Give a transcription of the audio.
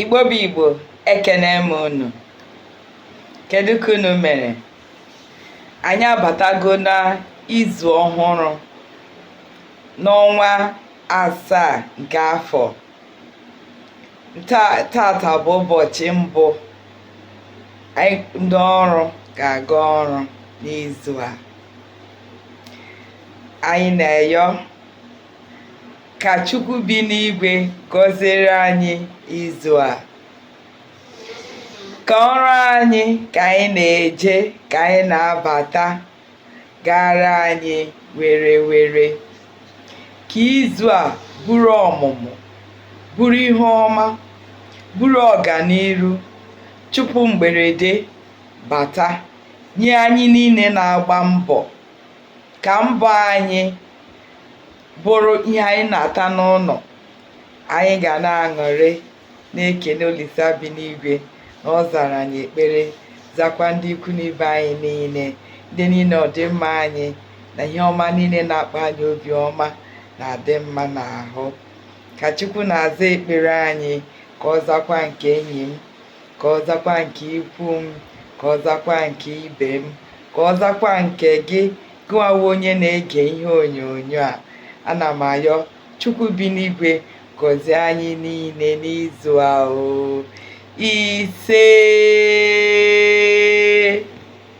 Igbo bụ Igbo ekene m unu kedu ka unu mere anyị abatago na izu ọhụrụ n'ọnwa asaa nke afọ tata bụ ụbọchị mbụ ndị ọrụ ga-aga ọrụ n'izu a anyị na-eyọ ka chukwu bi n'igwe gọziere anyị izu a ka ọrụ anyị ka anyị na-eje ka anyị na-abata gara anyị were were ka izu a buru ọmụmụ buru ihe ọma buru ọganiru chụpụ mgberede bata nye anyị niile na-agba mbọ ka mbọ anyị bụrụ ihe anyị na-ata n'ụnọ anyị ga na-aṅụrị na-ekene Olisa bi n'igwe na ọ zara anyị ekpere zakwa ndị ikwu na ibe anyị niile ndị niile ọdịmma anyị na ihe ọma niile na-akpa anyị obi ọma na-adị mma n'ahụ ka Chukwu na-aza ekpere anyị ka ọ zakwa nke enyi m ka ọ zakwa nke ikwu m ka ọ zakwa nke ibe m ka ọ zakwa nke gị gịnwa bụ onye na-ege ihe onyonyo a ana m ayọ chukwu bi n'igwe gọzie anyị niile n'izu a o isee